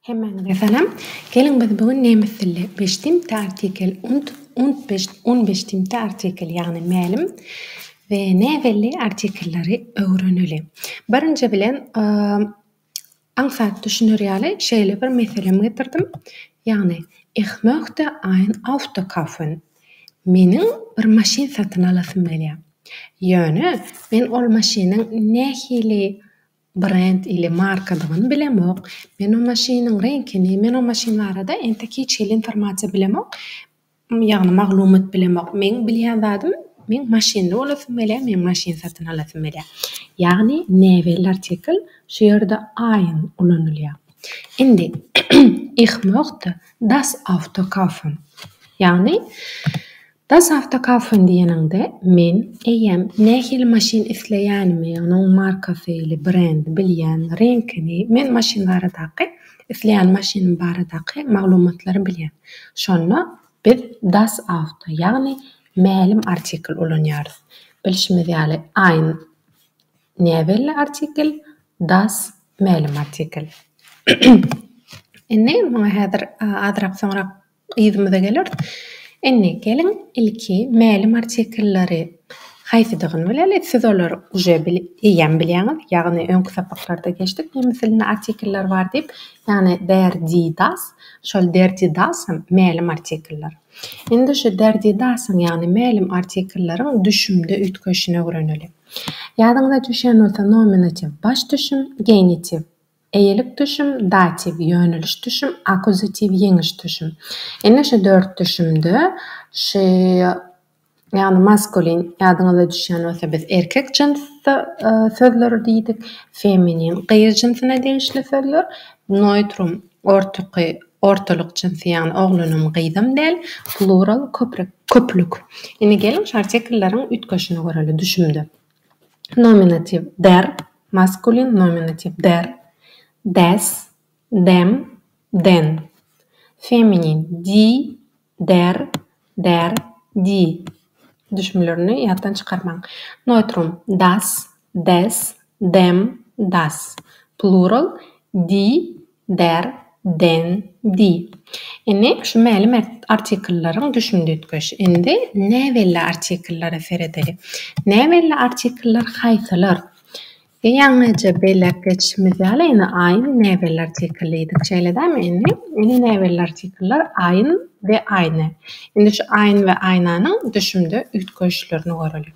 Hemmäňize salam. Geliň biz bu gün nemes dilli beştimte artikel und und beş un beştimte artikel ýagny mälim we näbelli artikelleri öwreneli. Birinji bilen aňsat düşüner ýaly şeýle bir meselem getirdim. Ýagny Ich möchte ein Auto kaufen. Meniň bir maşyn satyn alasym gelýär. Ýöne men ol maşynyň nähili Brend ile markadygyny bilemok. Men o maşynyň reňkini, men o maşyn barada entek hiç hili informasiýa bilemok. Ýagny maglumat bilemok. Meň bilýän zadym meň maşynly bolasym gelýär, men maşyn satyn alasym gelýär. Ýagny näbelli artikl şu ýerde aýyň ulanylýar. Indi Ich möchte das Auto kaufen. Ýagny Das Auto kaufen diýeniňde, men, eýýäm, nähili maşyn isleýänimi, onuň markasyly, brendi bilýän, reňkini, men maşyn baradaky, isleýän maşynym baradaky maglumatlary bilýän. Şonda biz Das Auto, ýagny mälim artikl ulanýarys. Bilşimiz ýaly, ein, näbelli artikl, das, mälim artikl. Indi, muňa häzir azrak soňrak Yzymyza geleris. Indi geliň ilki mälim artikellary haýsydygyny bileli. Siz olary uje bil, eýýäm bilýäňiz. Ýagny öňki sapaklarda geçdik nemes dilinde artikeller bar diýip. Ýagny der, di, das. Şol der, di, das hem mälim artikeller. Indi şu der, di, dasyň ýagny mälim artikelleriň düşümde üýtgeşini öwreneli. Ýadyňyza düşýän bolsa nominatiw baş düşüm, genitiw Eýelik düşüm, datiw, ýöneliş düşüm, akuzatiw, ýeňiş düşüm. Indi şu dört düşümde şy, ýagny maskulin, ýadyňyza düşýän bolsa biz erkek jyns sözleri diýdik, feminin, gyz jynsyna degişli sözler, noýtrum, ortaky, ortalyk jynsy, ýagny oglanam, gyzam däl, plural, köpre, köplük. Indi geliň şu artiklleriň üýtgeşini göreli düşümde. Nominatiw, der, maskulin nominatiw, der, des, dem, den, feminin, di, der, der, di, düşümlerini ýatdan çykarmaň, neutrum, das, des, dem, das, plural, di, Der, den, di. Indi şu mälim artikellaryň düşünditgeş. Indi näbelli artikellara seredeli. Näbelli artikellar haýsylar? Ýa ýaňyja belläp geçişimiz ýaly, indi aýyn näbelli artikel diýdik. Şeýle dälmi? Indi, indi näbelli artikellar aýyn we aýna. Indi şu aýyn we aýnanyň düşümde üýtgeşlerini göreliň.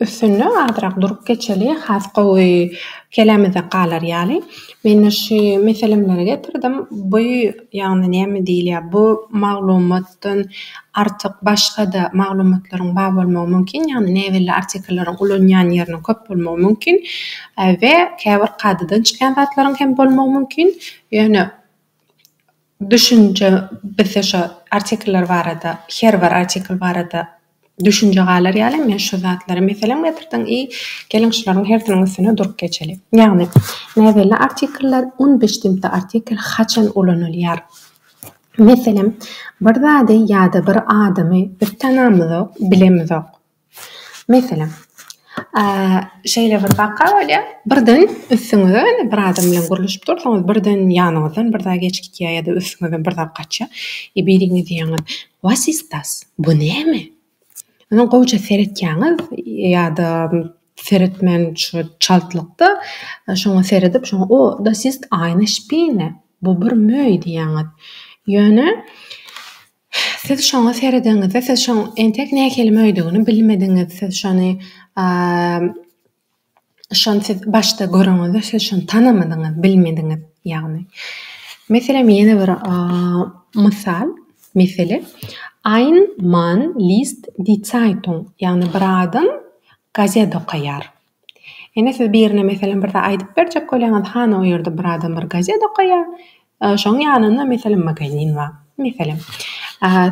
Üstünde azrak durup geçeli has gowy kelämizde galar ýaly. Mende şu meselemleri getirdim. Bu ýagny näme diýilýär bu maglumatdan artyk başgada maglumatlaryň bar bolmagy mümkin ýagny näbelli artikllaryň ulanýan ýeriniň köp bolmagy mümkin we käbir kadadan çykýan zatlaryň hem bolmagy mümkin ýöne düşünje bizde şo artikller barada her bir artikl barada Düşünje galar ýaly men şu zatlary meselem getirdiň i geliň şularyň hersiniň üstüne durup geçeli. Ýagny, näbelli artikler, unbestimmte artikel haçan ulanylýar? Meselem, bir zady ýa-da bir adamy biz tanamyzok, bilemizok. Meselem, şeýle bir waka bolýar, birden üstüňize indi bir adam bilen gürleşip dursuňyz, birden ýanyňyzdan bir zat geçip gitýär ýa-da üstüňizden bir zat gaçýar i biri diýýäňiz, Was ist das? Bu näme? Ine gowja seretýäňiz ýa-da seretmän şu çaltlykda şoňa seredip şoňa O, das ist eine Spinne, bu bir möý diýýäňiz. Ýöne siz şoňa seredeňizde siz şoň entek nähili möýdügini bilmediňiz. Siz şony Şony siz başda göreniňizde siz şony tanamadyňyz, bilmediňiz. Ýagny, meselem, ýene bir mysal, mesele, Ein Mann liest die Zeitung, ýagny bir adam gazet okaýar. Ine, siz birine, meselem, bir zat aýdyp berjek bolýaňyz, hany, o ýerde bir adam bir gazet okaýar, Şoň ýanynda meselem magazin bar. Meselem,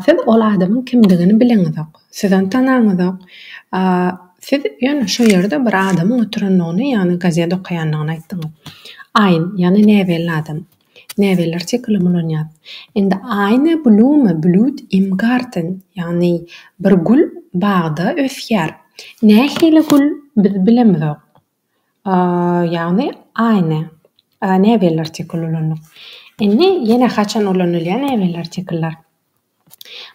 siz ol adamyň kimdigini bileňizok. Siz ony tanaňyzok. Siz ýöne şo ýerde bir adamyň oturandygyny, ýagny gazet okaýandygyny aýtdyňyz. Aýn, ýagny näbelli adam. Näbelli artikl ulanýar. Indi Eine Blume blüht im Garten, ýagny bir gül bagda ösýär. Nähili gül, biz bilemizok. Ýagny aýna. Näbelli artikl ulandyk. Indi ýene haçan ulanylýar näbelli artikllar?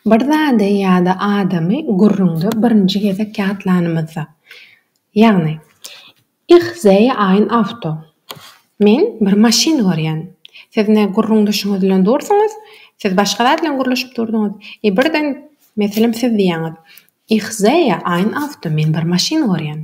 Bir zady ýa-da adamy gürrüňde birinji gezek ýatlanymyzda. Ýagny, Ich sehe ein Auto. Men bir maşyn görýän. Siz indi gürrüňdeşiňiz bilen dursuňyz. Siz başga zat bilen gürleşip durduňyz. I birden, meselem, siz diýýäňiz, Ich sehe ein Auto. Men bir maşyn görýän.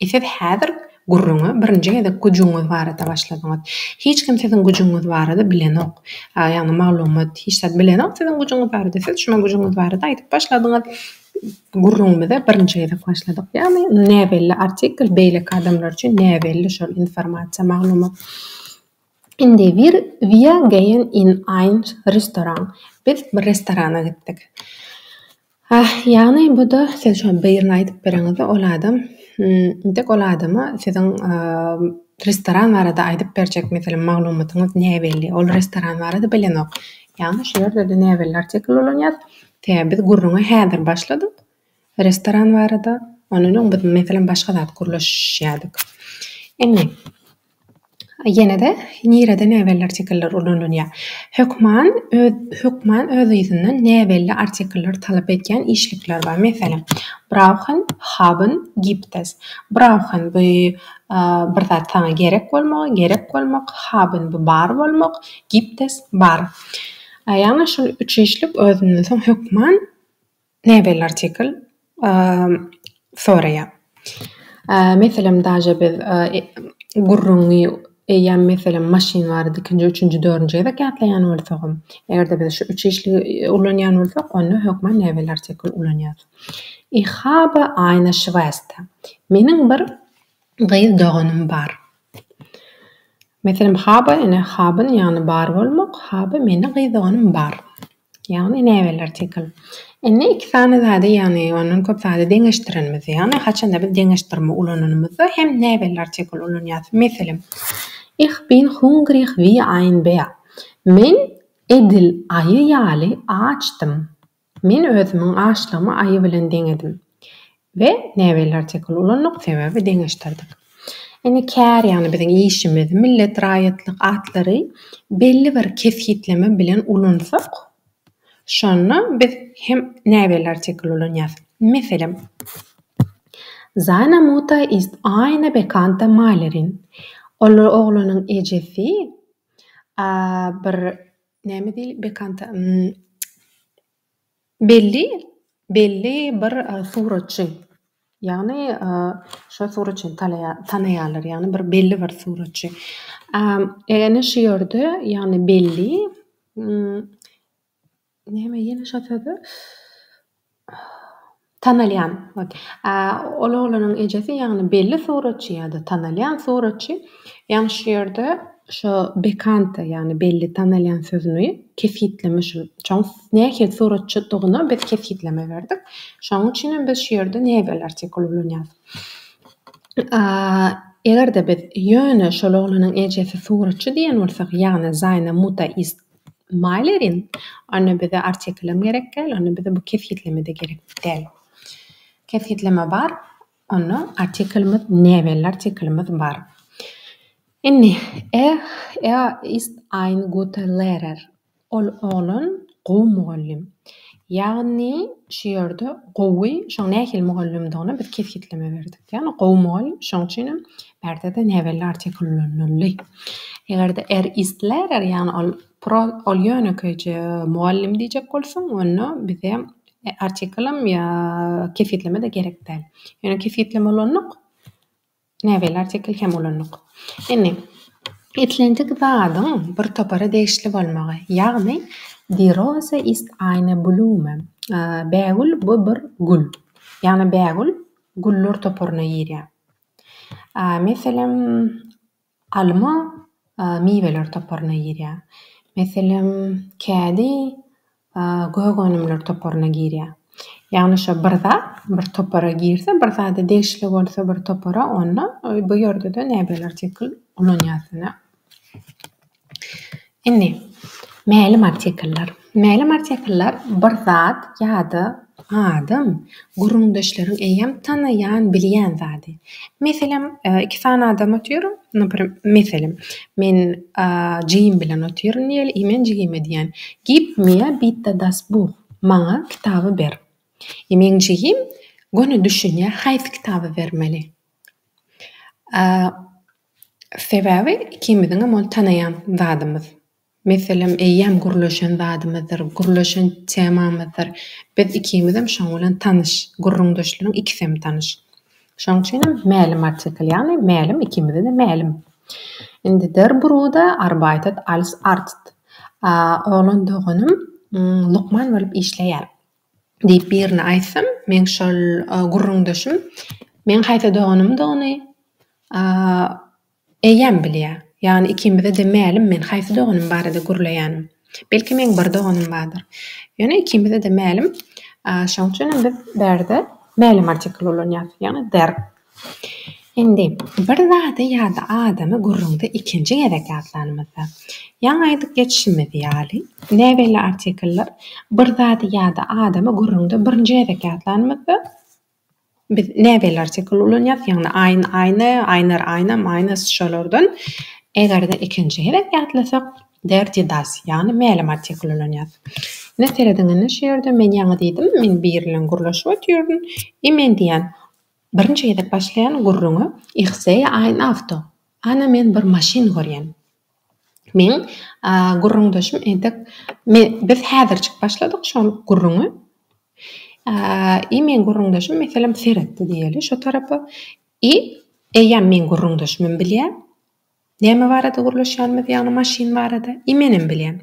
E siz häzir gürrüňe birinji gezek güjüňiz barada başladyňyz. Hiç kim siziň güjüňiz barada bilenok. Ýagny maglumat, hiç zat bilenok siziň güjüňiz barada. Siz şumy güjüňiz barada aýdyp başladyňyz. Gürrüňimize birinji gezek başladyk. Ýagny näbelli artikl beýleki adamlar üçin näbelli şol informasiýa, maglumat. Indi wir wir geýen in ein Restaurant. Biz bir restorana gitdik. Hah, ýagny bu-da siz şo birini aýdyp bereňizde ol adam, hmm, intek ol adama siziň restoran barada aýdyp berjek meselem maglumatyňyz näbelli, ol restoran barada bilenok. Ýagny şu ýerde-de näbelli artikl ulanýar. Tä biz gürrüňe häzir başladyk restoran barada, ondan öň biz meselem başga zat gürleşýärdik. Indi. Ýene-de nirede näbelli artikeller ulanylýar? Hökman öz hökman öz yzyndan näbelli artikelleri talap edýän işlikler bar. Meselem, brauchen, haben, gibt es. Brauchen bu bir zat saňa gerek bolmagy, gerek bolmak, haben bu bar bolmak, gibt es bar. Ýagny şul üç işlik özünden soň hökman Näbelli artikl soraýar. Meselem daže biz gürrüňi eýýäm meselem maşyn barada ikinji üçünji dördünji gezek ýatlaýan bolsagam egerde biz şu üç işligi ulanýan bolsak onda hökman näbelli artikl ulanýarys. Ich habe eine Schwester. Meniň bir gyz doganym bar. Meselem habe ene haben ýagny bar bolmak habe meniň gyz doganym bar. Ýagny näbeler Tikl. Indi iki sany zady ýagny ondan köp zady deňeşdirenimiz ýagny haçanda biz deňeşdirme ulananymyzda hem näbelli artikl ulanýas. Meselem Ich bin hungrig wie ein Bär. Men edil aýy ýaly açdym. Men özümiň açlygymy aýy bilen deňedim. we näbelli artikul ulandyk, sebäbi deňeşdirdik. Indi kär, ýagny biziň işimiz, millet, raýatlyk atlary belli bir kesgitleme bilen ulansak, şonda biz hem näbelli artikul ulanýarys. Meselem, Seine Mutter ist eine bekannte Malerin. Ol oglanyň ejesi bir näme diýil, bekannte, Belli belli bir suratçy, ýagny şo suratçyny talaýa tanaýarlar, ýagny bir belli bir suratçy. Ýagny şu ýerde ýagny belli näme ýene şo sözi tanalýan. Ol oglanyň ejesi ýagny belli suratçy ýa-da tanalýan suratçy. Ýaňy şu ýerde şo bekanta ýagny belli tanalýan sözüni kesgitleme şul çoň nähili suratçydygyna biz kesgitleme berdik. Şoň üçinem biz şu ýerde näbelli artikul ulanýarys. A eger-de biz ýöne şol oglanyň ejesi suratçy diýen bolsak ýagny Zaýna Muta ist Malerin onda bize artikulem gerek däl onda bize bu kesgitleme-de gerek däl. Kesgitleme bar. Onda artiklimiz ne belli artiklimiz bar. Indi er er ist ein guter Lehrer. Ol oglan gowy mugallym. Ýagny şu ýerde gowy şoň nähili mugallymdygyna biz kesgitleme berdik. Ýagny gowy mugallym. Şoň üçinem bärde-de ne belli artikl ulanyldy. Eger-de er ist Lehrer ýagny ol pro ol ýönekeýje mugallym diýjek bolsaň onda bize Artiklam ýa kesgitleme-de gerek däl. Ýöne kesgitleme ulandyk. Näbeli artikl hem ulandyk. Indi islendik zadyň bir topara degişli bolmagy, ýagny Die Rose ist eine Blume, bägül bu bir gül. Ýagny bägül güller toparyna girýär. Meselem, Alma miweler toparyna girýär. Meselem, kädi gök önümler toparyna girýär. Ýagny şo bir zat bir topara girse, bir zada degişli bolsa bir topara onda bu ýerde-de näbelerçe ulanýarsyňa. Indi, mälim artikuller. Mälim artikuller bir zat ýa-da adam, gürrüňdeşleriň eýýäm tanaýan, bilýän zady. Meselem, iki sany adam otyr, naprem, meselem, men jigim bilen otyryn diýeli, i men jigime diýen, Gib mir bitte das Buch, maňa kitaby ber. I meň jigim göni düşünýär, haýsy kitaby bermeli. Sebäbi ikimiziňem ony tanaýan zadymyz. Meselem, eýýäm gürleşen zadymyzdyr, gürleşen temamyzdyr. Biz ikimizem şoň bilen tanyş, gürrüňdeşligiň ikisem tanyş. Şoň üçin hem mälim artikl, ýagny mälim ikimize-de mälim. Indi der Bruder arbeitet als Arzt. Oglan doganym lukman bolup işleýär. Diýip birine aýtsam, meň şol gürrüňdeşim meň haýsy doganymdygyny eýýäm bilýär. Ýagny ikimize-de mälim men haýsy doganym barada gürleýänim. Belki meň bir doganym bardyr. Ýöne ikimize-de mälim. Şoň üçinem biz bärde mälim artikl ulanýarys, ýagny der. Indi, bir zady ýa-da adamy gürrüňde ikinji gezek ýatlanymyzda, ýaňy aýdyp geçişimiz ýaly, näbelli artikllar bir zady ýa-da adamy gürrüňde birinji gezek ýatlanymyzda, biz näbelli artikl ulanýarys, ýagny, aýn, aýny, aýnar, aýnam, aýnas, şolardan. Eger-de ikinji gezek ýatlasak, der die das, ýagny mälim artikl ulanýarys. Ine, serediň indi şu ýerde, men ýaňy diýdim, men biri bilen gürleşip otyryn, i men diýýän, Birinji gezek başlaýan gürrüňi Ihsey ein Auto, Ana men bir maşyn görýän. Meň gürrüňdeşim entek biz häzirjik başladyk şol gürrüňe. I meň gürrüňdeşim meselem seretdi diýeli şo tarapa. I eýýäm meň gürrüňdeşimem bilýä. Näme barada gürleşýänimiz, ýagny maşyn barada, i menem bilýän.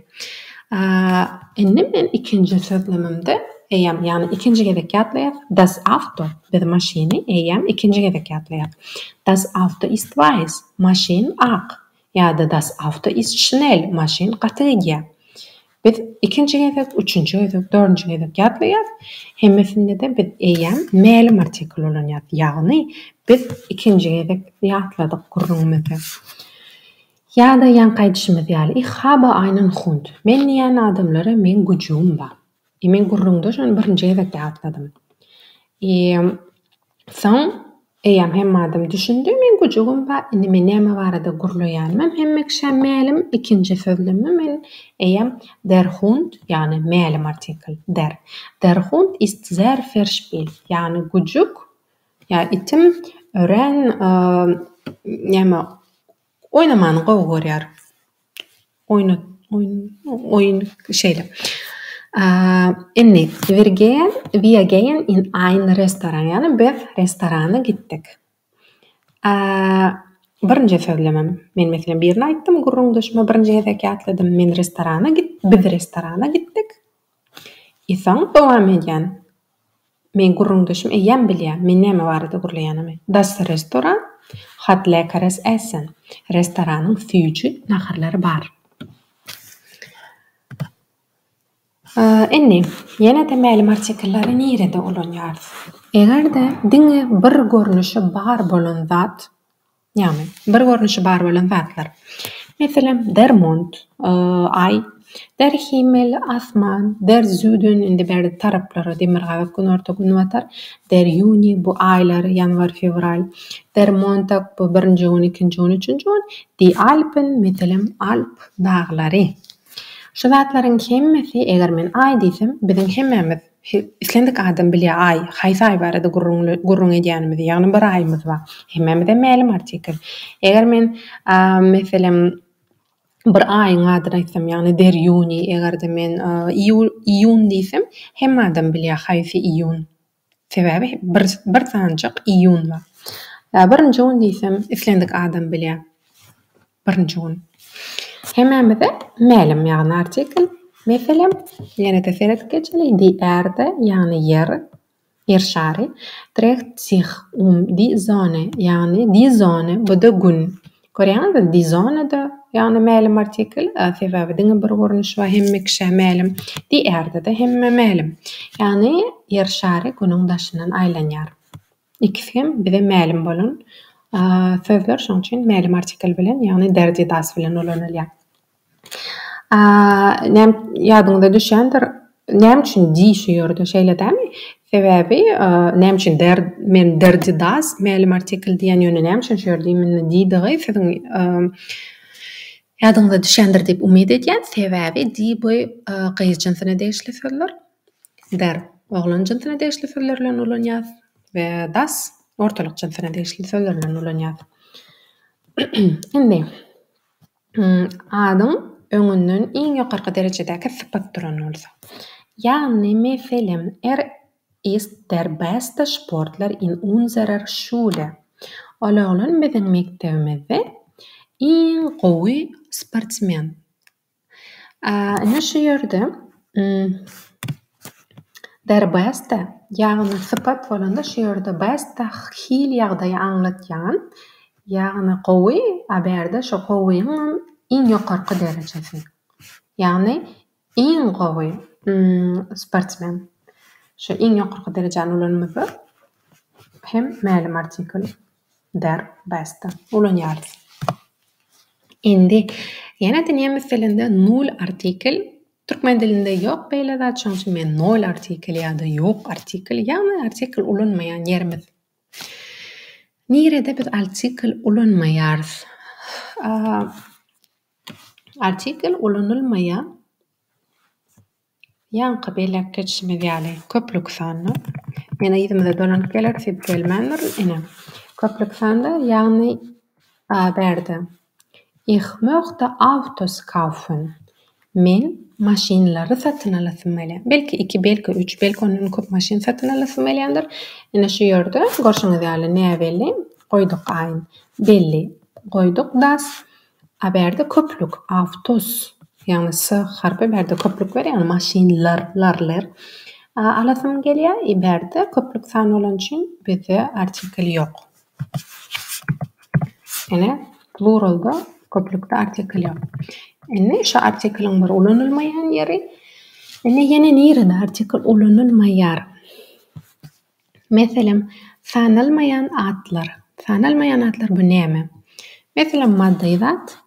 Aaa, indi men ikinji sözlemimde eýýäm, ýagny ikinji gezek ýatlaýar, Das Auto, biz maşyny eýýäm ikinji gezek ýatlaýar. Das Auto ist weiß, maşyn ak. Ýa-da Das Auto ist schnell, maşyn gaty gidýär. Biz ikinji gezek, üçünji gezek, dördünji gezek ýatlaýarys. Hemmesinde-de biz eýýäm mälim artikl ulanýarys. Ýagny, biz ikinji gezek ýatladyk gürrüňimizi. Ýa-da ýaňky aýdyşymyz ýaly, Ich habe einen Hund. Men diýýän adamlara meň güjügim bar. E, men gürrüňde şony birinji gezek ýatladym. E, Soň eýýäm hemme adam düşündi, meň güjügim bar, indi men näme barada gürleýänimem hemme kişä mälim, ikinji sözlemi men eýýäm Der Hund, ýagny mälim artikl, der, der Hund ist sehr verspielt, ýagny güjük, ýa itim, örän, näme, Oýnamany gowy görýär. Oýnat oýn oýun şeýle. Indi Wirgen we again in ein restoran ýaly biz restorana gitdik. Birinje sözlemem. Men meselem birini aýtdym gürrüňdeşime birinje gezek ýatladym. Men restorana git biz restorana gitdik. Esaň dowam edýän. Meň gürrüňdeşim eýýäm bilýär, men näme barada gürleýänimi. Das Restoran hat leckeres Essen, Restoranyň süýji naharlary bar. Indi, ýene-de mälim artikellary nirede ulanýarys? Eger-de diňe bir görnüşi bar bolan zat. Ýagny, bir görnüşi bar bolan zatlar. Meselem, Dermont, Aý, Derhimmel, Asman, Derzüden, indi bärde taraplara, demirgazyk, günorta, günbatar, Derýuni, bu aýlar, ýanwar, fewral, Dermontag, bu birinji gün, ikinji gün, üçünji gün, Die Alpen, meselem, Alp daglary. Şu zatlaryň hemmesi, eger men Aý diýsem, biziň hemmämiz, Islendik adam bilýär aý, haýsy aý barada gürrüň edýänimizi, ýagny bir aýymyz bar. Hemmämize mälim artikl. Eger men, meselem, bir aýyň adyny aýtsam, ýagny der ýuni, eger-de men iýun diýsem, hemme adam bilýär haýsy iýun. Sebäbi bir bir sanjyk iýun bar. Birinji gün diýsem, islendik adam bilýär. Birinji gün. Hemämize mälim ýagny artikl. Meselem, ýene-de seret geçeli, Die Erde, ýagny Ýer, Ýer şary, dreht sich um die Sonne, ýagny die Sonne, bu-da Gün. Görýäňizmi, die Sonne-da, ýagny mälim artikl, sebäbi diňe bir görnüş bar, hemme kişä mälim. Die Erde-de hemmä mälim. Ýagny Ýer şary Günüň daşyndan aýlanýar. Ikisi hem bize mälim bolan sözler, şonuň üçin mälim artikl bilen, ýagny derji das bilen ulanylýar. Näm ýadyňyza düşýändir, näme üçin di şu ýerde şeýle dämi? Sebäbi näme üçin der men derji das mälim artikl diýen, ýöne näme üçin şu ýerde imенно didigi siziň ýadyňyza düşýändir diýip umyt edýän. Sebäbi di bu gyz jynsyna degişli sözler. Ber, oglan jynsyna degişli sözler bilen ulanýas we das, ortalyk jynsyna degişli sözler bilen ulanýas. Indi, adyň öňünden iň ýokarky derejedäki sypat duran bolsa. Ýagny, meselem, Er ist der bäste sportler in unserer Schule. Ol oglan biziň mekdebimizde iň gowy sportsmen. Ine şu ýerde der bäsde ýagny sypat bolanda şu ýerde bäsde hil ýagdaýy aňlatýan ýagny gowy a berde şu gowyň iň ýokarky derejesi ýagny iň gowy sportsmen şu iň ýokarky derejäni ulanmasa hem mälim artikl. Bar, basta, ulanýarys. Indi ýene-de nemes dilinde null artikel, türkmen dilinde ýok beýle zat, şonuň üçin men nol artikel ýa-da ýok artikel, ýagny artikel ulanmaýan ýerimiz. Nirede biz artikel ulanmaýarys? Artikel ulanylmaýar. Ýaňky belläp geçişimiz ýaly, köplük sanda, ýene yzymyza dolanyp geler, siz gelmändir, ine, köplük sanda, ýagny a bärde, Ich möchte Autos kaufen, men maşynlary satyn alasym gelýär. Belki iki, belki üç, belki ondan köp maşyn satyn alasym gelýändir. Ine şu ýerde görşüňiz ýaly näbelli goýduk aýn. Belli goýduk das. Aberde köplük awtos ýagny s harpy bärde köplük ber ýagny maşyn lar lar ler alasym gelýä i bärde köplük sany bolany üçin bizde artikl ýok ene pluralda köplükde artikl ýok indi şu artikliň bir ulanylmaýan ýeri indi ýene nirede artikl ulanylmaýar Meselem, sanalmaýan atlar. Sanalmaýan atlar bu näme? Meselem, maddy zat,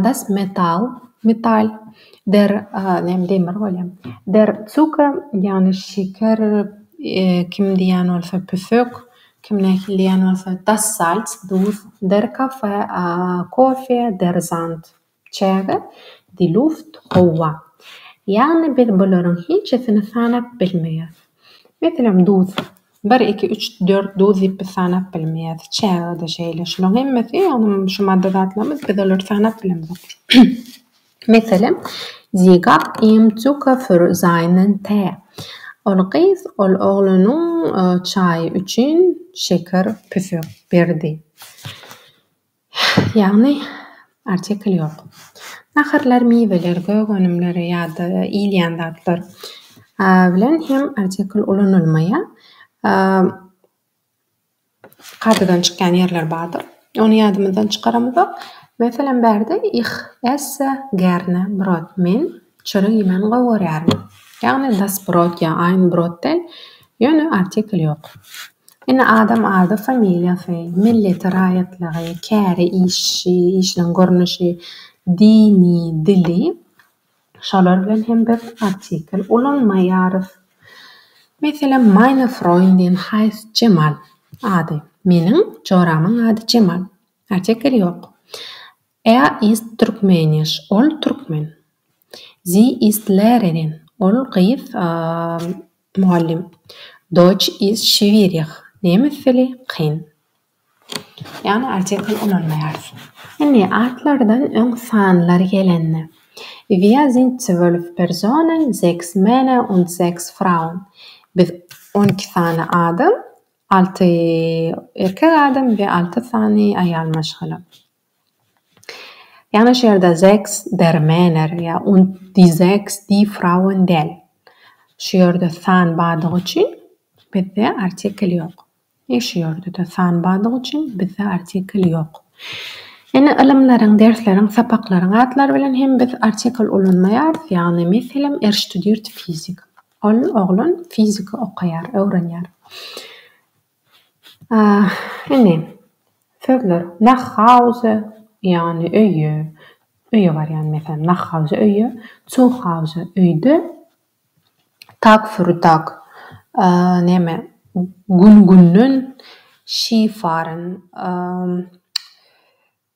das Metall, metal, der, näme demir bolýa, der Zucker, ýagny şeker, kim diýýän bolsa püsük, kim nähili diýýän bolsa, das Salz, duz, der Kafe, kofe, der Sand. Çäge, Die Luft, howa. Ýagny biz bularyň hiçesini sanap bilmeýäs. Meselem, duz. Bir, iki, üç, dört duz diýip biz sanap bilmeýäs. Çäge-de şeýle. Şularyň hemmesi, ýagny şu madda zatlarymyz, biz olary sanap bilemzok. Meselem, Sie gab ihm Zucker für seinen Tee. Ol gyz ol oglanyň çaýy üçin şeker, püsek, berdi. Ýagny, artikl ýok. Naharlar, miweler, gök önümler ýa-da iýilýän zatlar bilen hem artikl ulanylmaýar. Kadadan çykýan ýerler bardyr. Ony ýadymyzdan çykaramyzok. Meselem, bärde, Ich esse gerne Brot, men Çörek iýmän gowy görýärin. Ýagny das brot ýa ein brot däl, ýöne artikl ýok. Ine adam ady, familiýasy, milleti, raýatlygy, käri, işi, işiniň görnüşi, dini, dili, şolar bilen hem biz artikl ulanmaýarys. Meselem meine Freundin heisst Jemal ady, meniň joramyň ady Jemal. Artikl ýok. Er ist Türkmenisch, ol türkmen. Sie ist Lehrerin, ol gyz mugallym. Deutsch ist schwierig, nemes dili kyn. Ýagny artikel ulanmaýarys. Indi atlardan öň sanlar gelende. Wir sind zwölf Personen, sechs Männer und sechs Frauen. Biz on iki sany adam, alty erkek adam we alty sany aýal maşgala. Ýagny şu ýerde Sechs der Männer ýa und die Sechs die Frauen däl. Şu ýerde san bardygy üçin bizde artikel ýok. Ýa şu ýerde-de san bardygy üçin bizde artikel ýok. Ýene ylymlaryň, dersleriň, sapaklaryň atlary bilen hem biz artikel ulanmaýarys. Ýagny meselem Er studiert Physik. Ol, oglan, fizika okaýar, öwrenýär. Indi, sözler nach Hause, ýagny öýe, öýe barýan, meselem, nach Hause, öýe, zu Hause, öýde, Tag für Tag, näme, gün-günden, Ski fahren,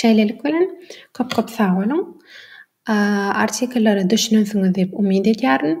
Şeýlelik bilen, köp-köp sag boluň! Artikllere düşünensiňiz diýip umyt edýärin.